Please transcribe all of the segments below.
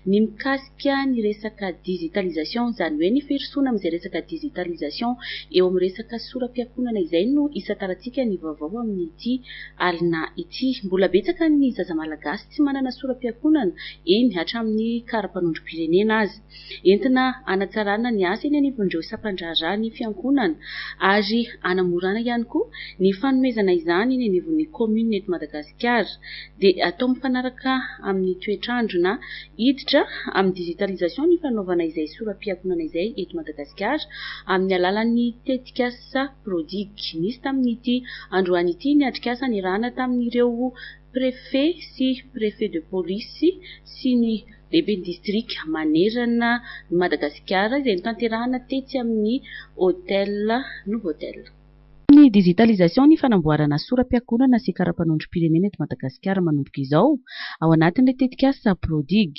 Ny mikasika ny resaka digitalisation, izany hoe ny firosoana amin'izay resaka digitalisation eo amin'ny resaka soram-piankohonana izay no isantarantsika ny vaovao amin'ity alina ity. Mbola betsaka ny zaza malagasy tsy manana soram-piankohonana, eny hatramin'ny kara-panondrom-pirenena aza. Entina hanatsarana ny asa eny anivon'ireo sampandraharaha ny fiankohonana ary hanamorana ihany koa ny fanomezana izany eny anivon'ny commune eto Madagasikara. dia atao mifanaraka amin'ny toetr'andro na hiditra amin'ny digitalisation ny fanaovana izay sora-pihatonana izay eto Madagasikara amin'ny alalan'ny tetikasa Prodic. Nisy tamin'ity androany ity ny atrikasa niarahana tamin'ireo Préfet sy Préfet de Police sy ny Lehiben'ny Distrika manerana ny Madagasikara izay notanterahana tetsy amin'ny Hotel Novotel. Amin'ny digitalisation ny fanamboarana sora-piakonana sy karapanondrom-pirenena eto Madagasikara manomboka izao, ao anatin'ilay tetikasa Prodig.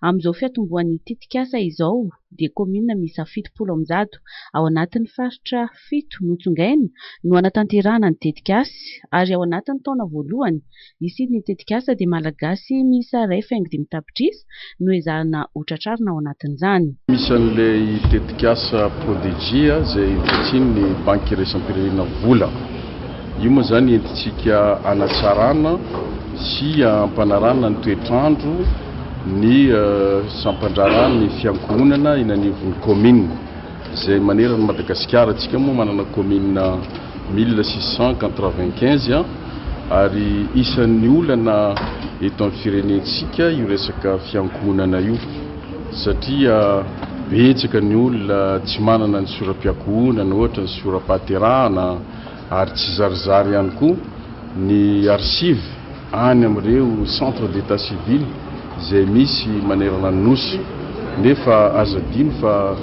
Amin'izao fiatombohan'ny tetikasa izao dia kaominina miisa fitopolo amby zato ao anatin'ny faritra fito notsongaina no hanatanterahana ny tetikasa ary ao anatin'ny taona voalohany Ici ny tetikasa dia Malagasy miisa iray faingo dimy tapitrisa no ezahina ho tratrarina ao anatin'izany. Misy an'ilay tetikasa Prodigia izay vitsian'ny Banky Iraisam-pirenena vola. Io moa izany entintsika hanatsarana sy hampanarahana ny toetr'andro ny sampan-draharaha ny fiankohonana eny anivon'ny kaominina izay manerana an'i Madagasikara. Isika moa manana kaominina. mille six cent quatre-vingt-quinze ary isan'ny olana eto amin'ny firenentsika io resaka fiankohonana io satria betsaka ny olona tsy manana ny sora-piankohonana ohatra ny sora-pahaterahana ary tsy zarizary ihany koa ny archives any amin'ireo centre d'état civil izay misy manerana ny Nosy nefa aza adino fa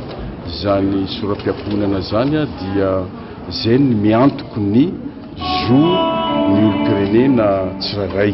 izany sora-piankohonana izany dia Izay no miantoky ny zo ny olom-pirenena tsirairay.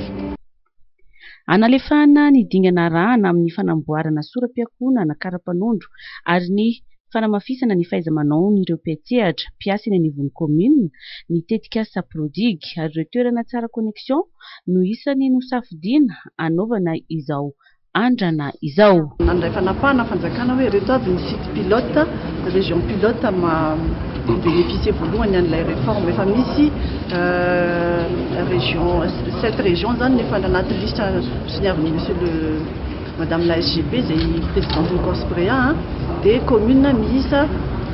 Analefahana ny dingana arahana amin'ny fanamboarana sora-piankohonana kara-panondro ary ny fanamafisana ny fahaiza-manaon'ireo mpiantsehatra, mpiasa eny anivon'ny kaominina, ny tetikasa Prodig ary ireo toerana tsara connexion no isany nosafidiana hanaovana izao andrana izao. Nandray fanapahana fanjakana hoe ireto avy ny sites pilotes, régions pilotes maha-bénéficier voalohany an'ilay réforme. Efa misy région, sept régions izany no efa anaty liste soniavin'i Monsieur le, Madame la SGP izay Présidenten'ny Corsprea a. Dia communes miisa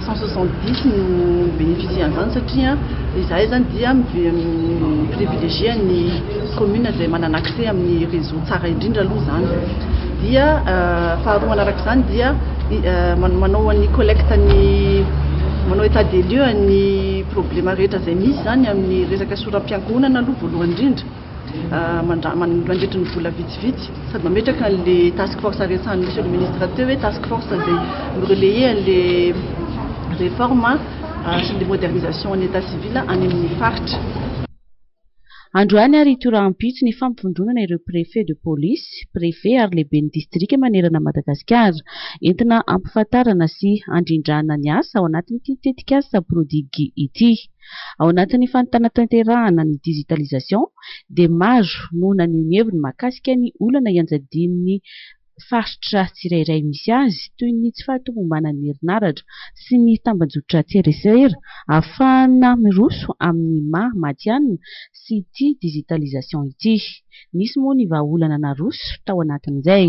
cent soixante dix no mi-bénéficier an'izany satria izahay izany dia mi-privilégier ny. commune izay manana accès amin'ny réseau tsara indrindra aloha izany dia faharoa manaraka izany dia manao an'ny collecte ny manao état des lieux an'ny problème rehetra izay misy izany amin'ny resaka soram-piankohonana aloha voalohany indrindra mandra- man- mandritry ny vola vitsivitsy sady mametraka an'le task force resahan'ny monsieur le ministre teo hoe task force izay mi-relayer an'le réforme sy ny modernisation an'ny état civil any amin'ny faritra Androany ary hitohy rahampitso ny fampivondronana ireo Préfet de Police, Préfet ary Lehiben'ny Distrika manerana an'i Madagasikara, entina hampifantarana sy handrindrana ny asa ao anatin'ity tetikasa Prodigy ity. Ao anatin'ny fantantanterahana ny digitalisation dia maro no naneho ny heviny mahakasika ny olana ianjadian'ny faritra tsirairay misy azy, toy ny tsy fahatomombanan'ny herinaratra sy ny tambajotran-tserasera, ahafahana miroso amin'ny maha matihanina sy ity digitalisation ity. Nisy moa ny vahaolana naroso tao anatin'izay.